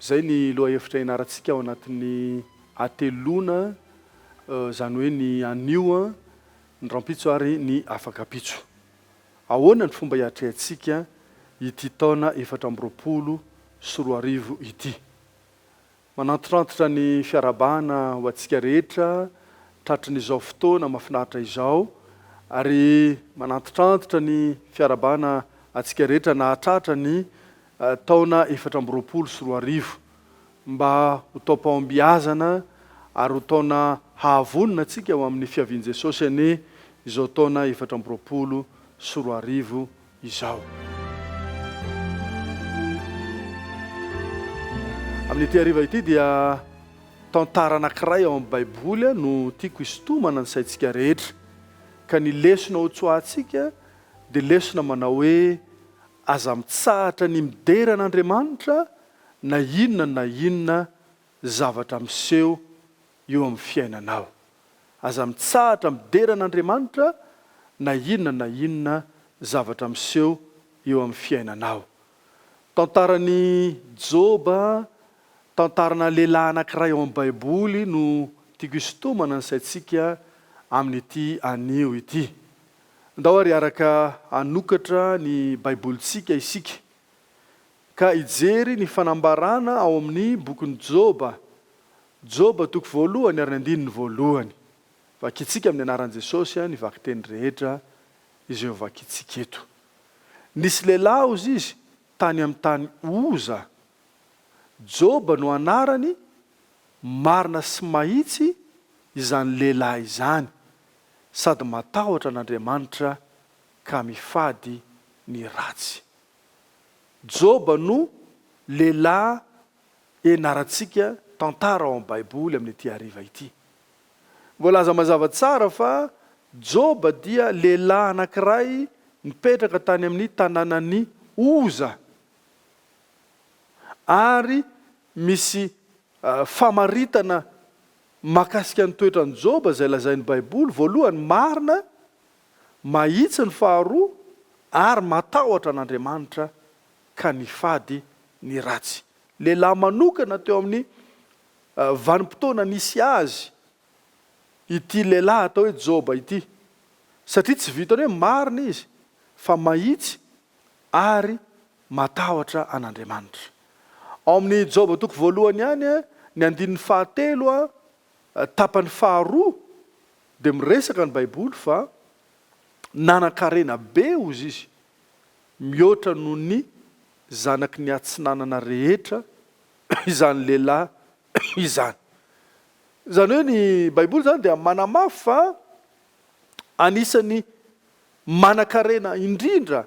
Izay ny lohahevitra ianarantsika ao anatin'ny hateloana, izany hoe ny anio, ny rahampitso ary ny afaka ampitso. Ahoana ny fomba hiatrehantsika ity taona efatra amby roapolo sy roa arivo ity? Manantitrantitra ny fiarahabana ho antsika rehetra tratry ny izao fotoana mafinaritra izao ary manantitrantitra ny fiarahabana antsika rehetra nahatratra ny taona efatra amby roapolo sy roa arivo, mba ho taom-pahombiazana ary ho taona hahavonona antsika ho amin'ny fiavian'i Jesosy anie izao taona efatra amby roapolo sy roa arivo izao. Amin'ity hariva ity dia tantara anankiray ao amin'ny Baiboly no tiako hisintomana ny saintsika rehetra, ka ny lesona hotsoahantsika dia lesona manao hoe Aza mitsahatra ny midera an'Andriamanitra na inona na inona zavatra miseho eo amin'ny fiainanao. Aza mitsahatra midera an'Andriamanitra na inona na inona zavatra miseho eo amin'ny fiainanao. Tantaran'i Joba, tantarana lehilahy anankiray ao amin'ny Baiboly no tiako hisintomana ny saintsika amin'ity anio ity. Andao àry hiaraka hanokatra ny Baibolintsika isika, ka hijery ny fanambarana ao amin'ny bokin'i Joba. Joba toko voalohany ary ny andininy voalohany. Vakintsika amin'ny anaran'i Jesosy ny vakiteny rehetra izay ho vakintsika eto. Nisy lehilahy, hozy izy, tany amin'ny tany Oza. Joba no anarany, marina sy mahitsy izany lehilahy izany. sady matahotra an'Andriamanitra ka mifady ny ratsy. Joba no lehilahy ianarantsika tantara ao amin'ny Baiboly amin'ity hariva ity. Voalaza mazava tsara fa Joba dia lehilahy anankiray nipetraka tany amin'ny tanànan'i Oza, ary misy famaritana Mahakasika ny toetran'i Joba izay lazain'ny Baiboly, voalohany, marina, mahitsy ny faharoa, ary matahotra an'Andriamanitra ka nifady ny ratsy. Lehilahy manokana teo amin'ny vanim-potoana nisy azy ity lehilahy atao hoe Joba ity, satria tsy vitan'ny hoe marina izy fa mahitsy ary Matahotra an'Andriamanitra. Ao amin'ny Joba toko voalohany ihany, ny andininy fahatelo, tapany faharoa, dia miresaka ny Baiboly fa nanan-karena be Ozizy, mihoatra noho ny zanaky ny atsinanana rehetra, izany lehilahy izany. Izany hoe ny Baiboly izany dia manamafy fa anisan'ny manan-karena indrindra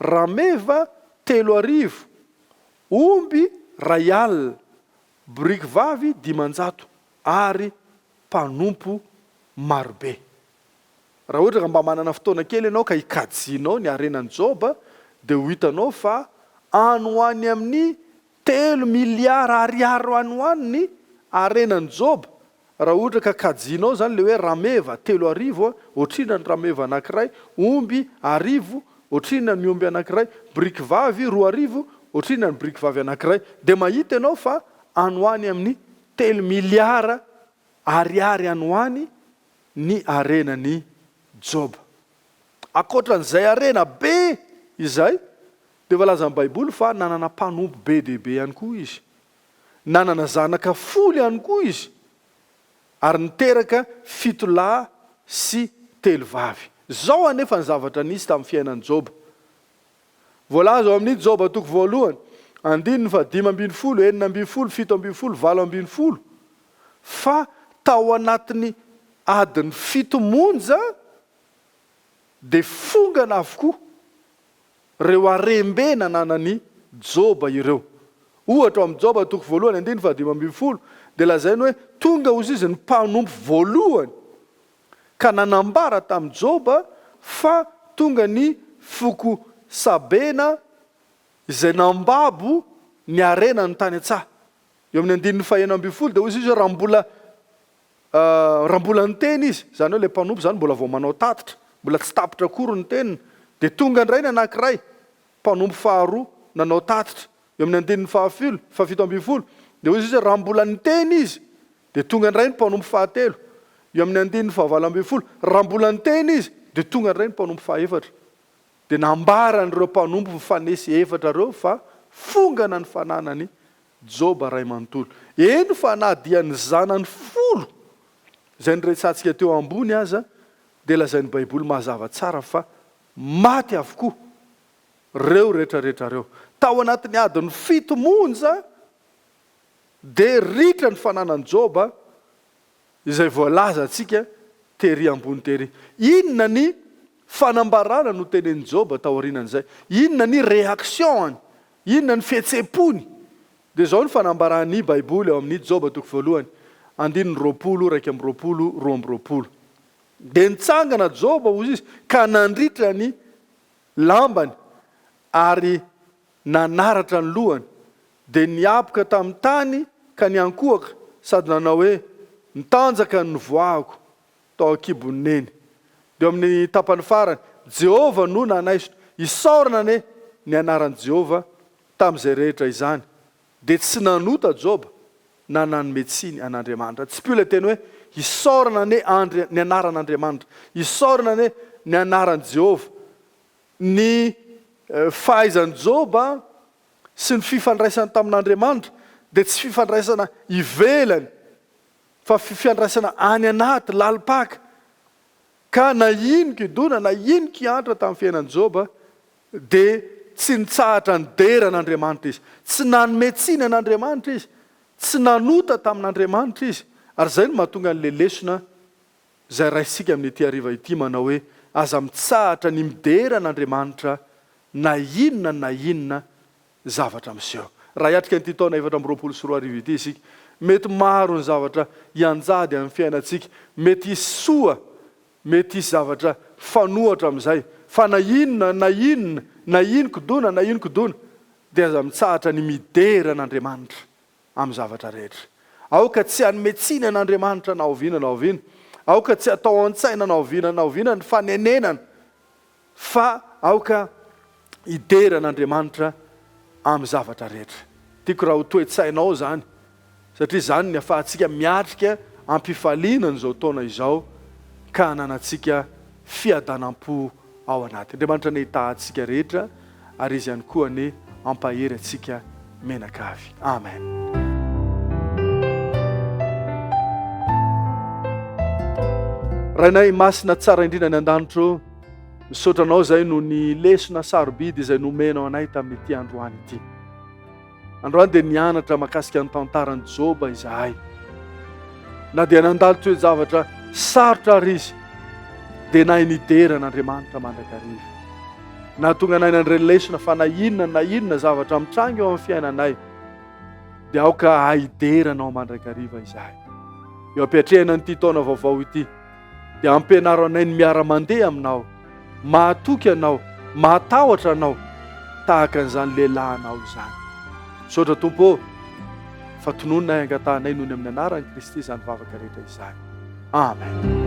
rameva telo arivo, omby iray alina, boriky vavy dimanjato ary mpanompo marobe. Raha ohatra ka mba manana fotoana kely ianao ka ikajianao ny harenan'i Joba dia ho hitanao fa any ho any amin'ny telo miliara ariary any ho any ny harenan'i Joba Raha ohatra ka kajianao izany ilay hoe rameva telo arivo, ohatrinona ny rameva anankiray, omby arivo, ohatrinona ny omby anankiray, biriky vavy roa arivo, ohatrinona ny biriky vavy anankiray, dia mahita ianao fa any ho any amin'ny telo miliara ariary any ho any ny harenan'i Joba. Ankoatra an'izay harena be izay, dia voalazan'ny Baiboly fa nanana mpanompo be dia be ihany koa izy. Nanana zanaka folo ihany koa izy, ary niteraka fito lahy sy telo vavy. Izao anefa ny zavatra nisy tamin'ny fiainan'i Joba. Voalaza ao amin'ny Joba toko voalohany, andininy fahadimy ambin'ny folo, enina ambin'ny folo, fito ambin'ny folo, valo ambin'ny folo, fa tao anatin'ny adiny fito monja dia fongana avokoa Ireo harem-be nananan'i Joba ireo. Ohatra, ao amin'i Joba toko voalohany andininy fahadimy ambin'ny folo, dia lazainy hoe tonga hozy izy ny mpanompo voalohany, ka nanambara tamin'i Joba fa tonga ny foko Sabena izay nambabo ny harena ny tany an-tsaha. Eo amin'ny andininy fahenina ambin'ny folo dia hozy izy hoe raha mbola. Raha mbola niteny izy, izany hoe ilay mpanompo izany mbola vao manao tatitra, mbola tsy tapitra akory ny teniny, dia tonga indray ny anankiray, mpanompo faharoa, nanao tatitra. Eo amin'ny andininy fahafilo, fahafito ambin'ny folo, dia hoy Jesoa, Raha mbola niteny izy, dia tonga indray ny mpanompo fahatelo. Eo amin'ny andininy fahavalo ambin'ny folo, Raha mbola niteny izy, dia tonga indray ny mpanompo fahaefatra. Dia nambaran'ireo mpanompo mifanesy efatra ireo fa fongana ny fananany Joba ray manontolo. Eny fa na dia ny zanany folo izay noresahantsika teo ambony aza dia lazain'ny Baiboly mazava tsara fa maty avokoa ireo retraretra ireo. Tao anatin'ny adiny fito monja dia ritra ny fananan'i Joba izay voalazantsika tery ambony tery. Inona ny fanambarana notenenin'i Joba taorianan'izay? Inona ny reaction-ny? Inona ny fihetsem-pony? Dia izao ny fanambaran'ny Baiboly ao amin'ny Joba toko voalohany, andininy roapolo iraika amby roapolo, roa amby roapolo, Dia nitsangana Joba, hoy izy, ka nandritra ny lambany ary nanaratra ny lohany, Dia niaboka tamin'ny tany ka niankohoka sady nanao hoe, Mitanjaka ny nivoahako tao an-kibon'i Neny. Dia eo amin'ny tapany farany, Jehovah no nanaisotra. Isaorana anie ny anaran'i Jehovah tamin'izay rehetra izany! Dia tsy nanota Joba na nanome tsiny an'Andriamanitra. Tsipiho ilay teny hoe, Isaorana anie Andri, ny anaran'Andriamanitra. Isaorana anie ny anaran'i Jehovah. Ny fahaizan'i Joba sy ny fifandraisany tamin'Andriamanitra dia tsy fifandraisana ivelany fa fifiandraisana any anaty, lalim-paka. Ka na ino kidona, na ino kiantra tamin'ny fiainan'i Joba dia tsy nitsahatra nidera an'Andriamanitra izy. Tsy nanome tsiny an'Andriamanitra izy. Tsy nanota tamin'Andriamanitra izy. Ary izay no mahatonga an'ilay lesona izay raisintsika amin'ity hariva ity manao hoe, Aza mitsahatra ny midera an'Andriamanitra na inona na inona zavatra miseho. Raha hiatrika an'ity taona efatra amby roapolo sy roa arivo ity isika, mety maro ny zavatra hianjady amin'ny fiainantsika, mety hisy soa, mety hisy zavatra hifanohitra amin'izay, fa na inona na inona, na inokodona na inokodona, dia aza mitsahatra ny midera an'Andriamanitra. amin'ny zavatra rehetra. Aoka tsy hanome tsiny an'Andriamanitra na oviana na oviana. Aoka tsy hatao an-tsaina na oviana na oviana ny fanenenana, fa aoka hidera an'Andriamanitra amin'ny zavatra rehetra. Tiako raha ho toe-tsainao izany, satria izany ny hahafahantsika miatrika am-pifaliana an'izao taona izao, ka hananantsika fiadanam-po ao anaty. Andriamanitra anie hitaha antsika rehetra ary Izy ihany koa anie hampahery antsika mianakavy. Amen. Rainay masina tsara indrindra ny an-danitro, misaotra anao izay no ny lesona sarobidy izay nomenao anay tamin'ity androany ity. Androany dia nianatra makasika ny tantaran'i Joba izahay. Na dia nandalo toe-javatra sarotra ary izy, dia nahay nidera an'Andriamanitra mandrakariva. Nahatonga anay nandre lesona fa na inona na inona zavatra mitranga eo amin'ny fiainanay, dia aoka hidera anao mandrakariva izahay. Eo ampiatrehana an'ity taona vaovao ity, dia ampianaro anay ny miara-mandeha aminao, mahatoky anao, mahatahotra anao, tahaka an'izany lehilahy anao izany. Misaotra Tompo ô, fa tonononay angatahanay noho ny amin'ny anaran'i Kristy izany vavaka rehetra izany. Amen.